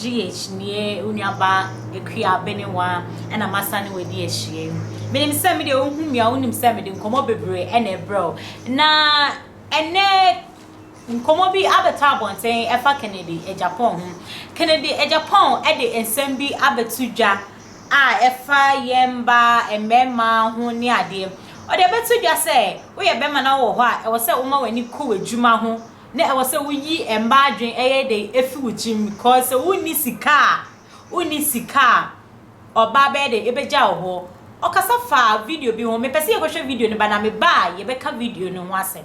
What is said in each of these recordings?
GH nie onuaba Akua Abenewa ɛna masa ne wadi ahyia yi menim sɛ mede wohu me a wonim sɛ mede nkɔmmɔ bebree ɛna ɛbrɛ wo na ɛnɛ nkɔmmɔ bi abɛtɔ abɔnten ɛfa Kennedy Agyapong ho Kennedy Agyapong ɛde nsɛm bi abɛto dwa a ɛfa yɛn mma mmarima ho ne adeɛ. Ɔde bɛto dwa sɛ, woyɛ barima na wowɔ hɔ a, ɛwɔ sɛ woma w'ani kɔ w'adwuma ho, na ɛwɔ sɛ woyi mmaa adwene ɛyɛ dɛ efi wo tirim because sɛ wonni sika a, wonni sika a, ɔbaa bɛyɛ dɛ ebegya wo hɔ. Ɔkasa faa video bi ho, mepɛ sɛ yɛkɔhwɛ video no ba na meba a yɛbɛka video no ho asɛm.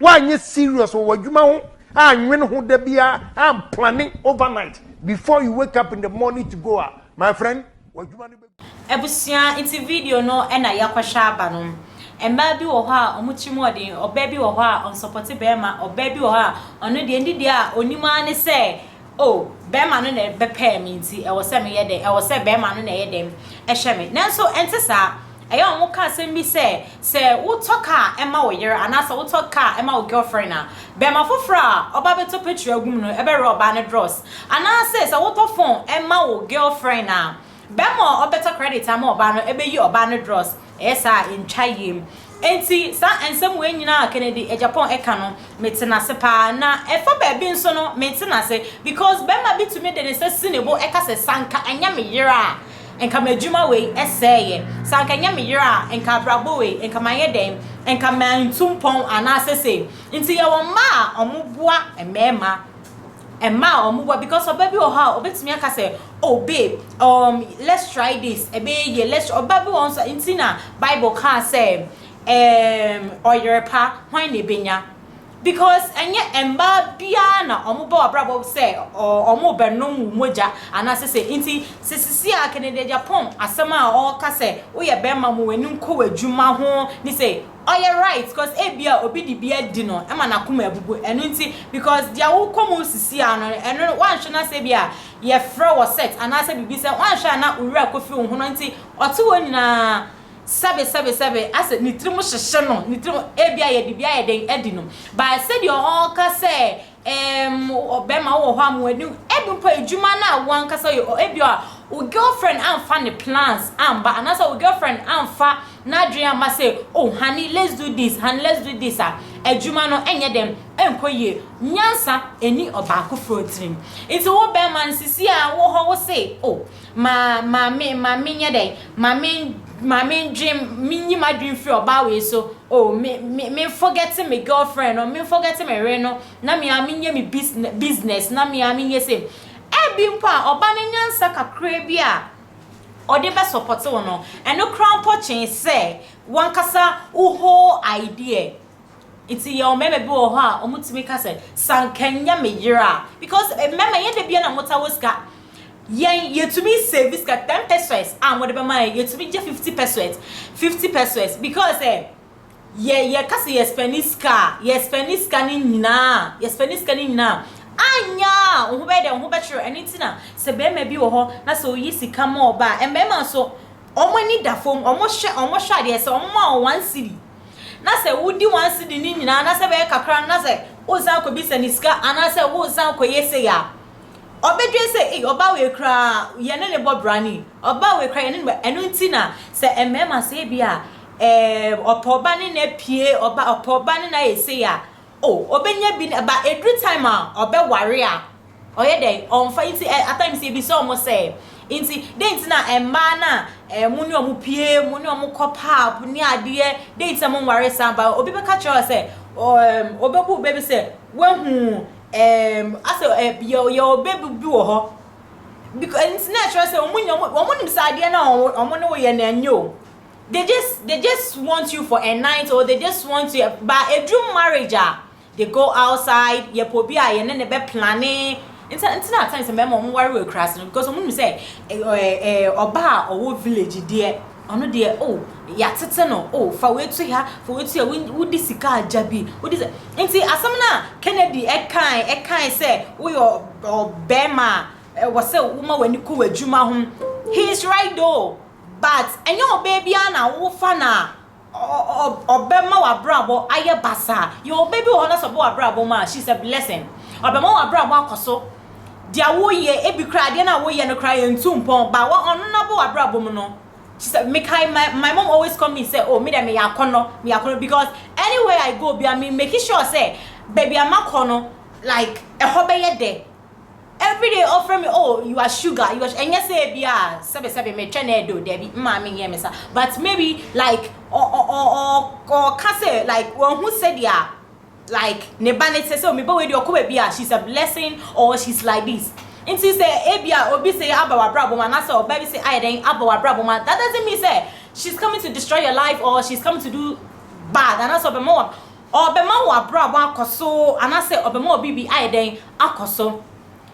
Woanyɛ serious wɔ w'adwuma ho annwene ho da biara amplane overnight before you wake up in the morning to go a, my friend, w'adwuma no bɛgu. Abusua nti video no na yɛakɔhwɛ aba no. Mmaa bi wɔ hɔ a wɔn tiri mu ɔden, ɔbaa bi wɔ hɔ a ɔnsɔpɔte barima, ɔbaa bi wɔ hɔ a ɔno deɛ ne deɛ a ɔnim ara ne sɛ Oh, barima no na ɛbɛpɛɛ me nti ɛwɔ sɛ meyɛ dɛn? Ɛwɔ sɛ barima no na ɛyɛ dɛn? Ɛhyɛ me. Nanso ɛnte saa. Ɛyɛ a wɔka asɛm bi sɛ, sɛ wotɔ kaa ma wo yere anaasɛ wotɔ kaa ma wo girlfriend a, barima foforɔ a ɔba bɛtɔ petrol agu mu no bɛwerɛ ɔbaa no dros. Anaasɛ sɛ wotɔ phone ma wo girlfriend a, Bɛrima a ɔbɛtɔ credit ama ɔbaa no bɛyi ɔbaa no drawers, ɛyɛ saa a ɛntwa yiem. Enti saa nsɛm wei nyinaa a Kennedy Agyapong ɛka no, mete no ase pa ara. Na ɛfa baabi nso no, mente no ase because bɛrima bi tumi de ne nsa si ne bo ɛka sɛ, sɛ anka ɛnyɛ me yere a, nka m'adwuma wei sɛeɛ, sɛ anka ɛnyɛ me yere a, nka abrabɔ wei, nka mayɛ dɛn, nka mantu mpɔn anaasɛ sei. Nti yɛwɔ mmaa a wɔboa mmarima. Ɛmaa wɔn boa because ɔbaa bi wɔ hɔ a ɔbɛtumi aka sɛ oh babe um, let's try this ɛbɛyɛ yie let's try ɔbaa bi wɔ hɔ nso nti na bible kaa sɛ um, ɔyere pa hwan na ɛbɛnya because ɛnyɛ mmaa biara na wɔn ba w'abrabɔ sɛ wɔn bɛnom wo mogya anaasɛ sɛ nti sɛ sisi a Kennedy Agyapong asɛm a ɔka sɛ woyɛ bɛrima mu w'ani nkɔ w'adwuma ho ne sɛ Ɔyɛ right cos ebia obi de bi adi no ma nakoma abubu ɛno nti because deɛ wo kɔ mu sisi ara no ɛno wanhwɛ na sɛ ebia yɛfrɛ wɔ sex anaasɛ biribi sɛ wanhwɛ a na wo werɛ akɔ firi wo ho no nti ɔte hɔ nyinaa sɛbe sɛbe sɛbe asɛ ne tirim hyehye no ne tirim ebia yɛde bi ayɛ dɛn adi no but sɛdeɛ ɔɔka sɛ Ehm wo bɛma wo wɔ hɔ a mo ani ebi mpo a edwuma no a wo ankasa yɛ ɔ ebi a wo girlfriend anfa ne plans amba anaa sɛ wo girlfriend anfa n'adwen amma sɛ oh honey let's do this honey let's do this a edwuma no ɛnyɛ dɛn ɛnkɔ yie nyansa ɛni ɔbaako foɔ tirim nti wo bɛma no sisi a wo hɔ wo se oh Ma ma me ma menyɛ dɛn? Ma me ma mendwen menyi m'adwen mfiri ɔbaa wei so o, me me memfɔgɛte me girl friend no, memfɔgɛte me yere no na me ara menyɛ me bisine business na me ara menyɛ sei. Ɛbi mpo a ɔba no nyansa kakraa bi a ɔde bɛsɔpɔte wo no, ɛno koraa mpo kyɛn sɛ w'ankasa wo whole idea. Nti yɛwɔ mmarima bi wɔ hɔ a wɔtumi ka sɛ, sɛ anka ɛnyɛ me yere a, because mmarima ɛnyɛ da biara na motaa wɔ sika, Yɛn yɛtumi save sika ten pesewas a wɔde bɛma yɛn yɛtumi gye fifty pesewas fifty pesewas because sɛ yɛ yɛka sɛ yɛ spɛni sika a yɛ spɛni sika no nyinaa yɛ spɛni sika no nyinaa anya a wo ho bɛyɛ dɛ wo ho bɛkyerɛ ɛno ti na sɛ bɛrima bi wɔ hɔ na sɛ oyi sika ma ɔba a mmarima nso wɔn ani da fam wɔn hwɛ wɔn hwɛ adeɛ sɛ wɔn ma wɔn one cedi na sɛ wodi one cedi no nyinaa na sɛ bɛyɛ kakra na sɛ wosan kɔbisa ne sika anaasɛ wosan kɔyɛ sei a Ɔbɛdwen sɛ, ei, ɔbaa wei koraa, yɛne no bɔ bra ni, ɔbaa wei koraa, yɛne no bɔ, ɛno nti na sɛ mmarima sɛ ebi a, eh, ɔpɛ ɔba ne no apue, ɔba, ɔpɛ ɔba ne no ayɛ sei a, oh, ɔbɛnya bi, ba ɛduru time a ɔbɛware a, ɔyɛ dɛn, ɔmfa, nti eh, at times yɛbisa wɔn sɛ, nti, dɛn nti na mmaa no a, eh, mo ne wɔn pue, mo ne wɔn kɔ pub ne adeɛ, dɛn nti na mo nware saa, ba obi bɛka kyerɛ wo sɛ, oh, eh, ɔbɛbu wo bɛ bi sɛ, wahu Ɛɛm, asɛ ɛ, yɛ, yɛ ɔbɛ bi, bi wɔ hɔ. Because, nti na ɛkyerɛ sɛ wɔn nyɛ, wɔn, wɔn nim sɛ adeɛ no a wɔn, wɔn ne wo yɛ no ɛnyɛ o. They just, they just want you for a night or they just want to, but ɛduru marriage a, they go outside, yɛpɛ obi a yɛne no bɛ plane. Nti, nti na at times mmarima wɔn ware wɔ akuraase no because wɔn nim sɛ ɛ, ɛ, ɛ, ɔbaa a ɔwɔ village deɛ, Ɔno deɛ oh yatete no oh fa wei to ha fa wei to ha wo di sika agya bi wo di nti asɛm no a Kennedy ɛkae ɛkae sɛ wo yɛ ɔbɛɛma a ɛwɔ sɛ wo ma w'ani kɔ w'adwuma ho he is right though but ɛnyɛ ɔbɛɛ biara na wo fa no a ɔbɛ ma w'abrabɔ ayɛ basaa yɛ ɔbɛ bi wɔ hɔ na sɛ ɔbɛ w'abrabɔ mu a she is a blessing ɔbɛ ma w'abrabɔ akɔ so. deɛ woyɛ, ebi koraa adeɛ no a woyɛ no koraa yɛntu mpɔn, but wɔ ɔno no abɔ w'abrabɔ mu no, kyerɛ sɛ, mekae my my mom always call me sɛ, oh me deɛ meyɛ akɔnnɔ, meyɛ akɔnnɔ because anywhere I go biara me make sure sɛ baabi a makɔ no like ɛhɔ bɛyɛ dɛ, everyday ɔfrɛ me oh you are sugar, you are ɛnyɛ sɛ ebi a sɛbesɛbe metwɛn na ɛdɔ o, dabi me maame nyɛ me saa, but maybe like ɔ ɔ ɔ ɔ ɔka sɛ like wahu sɛdeɛ a. like ne ba ne te sɛ me ba wei deɛ ɔkɔ baabi a she's a blessing or she's like this nti sɛ ebia obi se aba w'abrabɔ mu anaasɛ ɔbaa bi se ayɛ dɛn aba w'abrabɔ mu that doesn't mean sɛ she's coming to destroy your life or she's coming to do bad anaasɛ ɔbɛma wɔ ɔbɛma w'abrabɔ akɔ so anaasɛ ɔbɛma wɔ biribi ayɛ dɛn akɔ so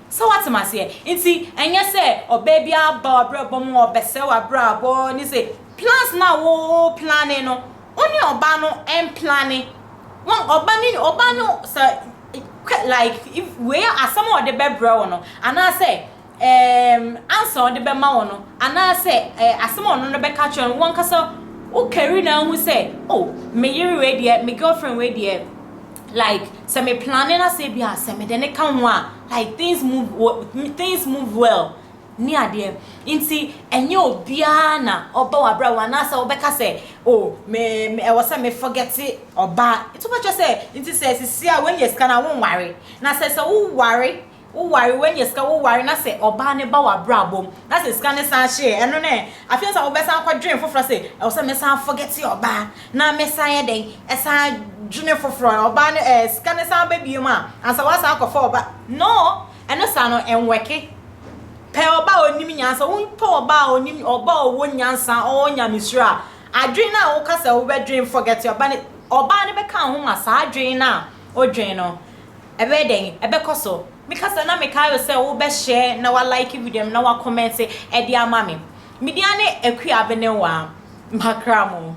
So woate m'aseɛ? Nti ɛnyɛ sɛ ɔbaa bi aba w'abrabɔ mu ɔrebɛsɛe w'abrabɔ ne sɛ plans no a wo plane no wo ne ɔbaa no mplane wɔn ɔba ne ɔbaa no sɛ kɛ like if wei a asɛm a ɔde bɛbrɛ wo no anaasɛ ɛɛm ansa ɔde bɛma wo no anaasɛ ɛɛ asɛm a ɔno no bɛka kyerɛ no wankasa wo kari na ahu sɛ oh me yere wei deɛ me girlfriend wei deɛ like sɛ me plane na sɛ bi a sɛ me de ne ka ho a like things move things move well ne adeɛ nti ɛnyɛ obiara na ɔba wabra wɔn anaasɛ ɔbɛka sɛ o oh, me me ɛwɔ sɛ me forgete ɔbaa nti wobɛkyɛ sɛ nti sɛ sisi a wɔn yɛ sika na wɔn ware na sɛ sɛ wo ware Wo ware, w'anya sika, wo ware na sɛ ɔbaa no ba w'abrabɔ mu na sɛ sika no san hye ɛ, ɛno no ɛ? Afei nso a wo bɛsan akɔ dwene foforɔ sɛ ɛwɔ sɛ me san forget ɔbaa na me san yɛ dɛn ɛsan dwene foforɔ ɛ? Ɔbaa no ɛ, sika no san ba bio mu a ansa w'asan akɔ fa ɔbaa, no, ɛno saa no ɛnwɔke. Pɛ ɔbaa a ɔnim nyansa, wo pɛ ɔbaa a ɔnim, ɔbaa a ɔwɔ nyansa, ɔwɔ nyamesuro a, adwene no a wo ka sɛ wo bɛ dwene forget ɔbaa no, ɔbaa no bɛka wo ho ma saa adwene no a wo dwene no. Ɛbɛyɛ dɛn? Ɛbɛkɔ so. Me kasa na me kae wo sɛ wo bɛ share na wa like video no na wa comment ɛde ama me. Me din ane Akua Abenewaa. Makra mo.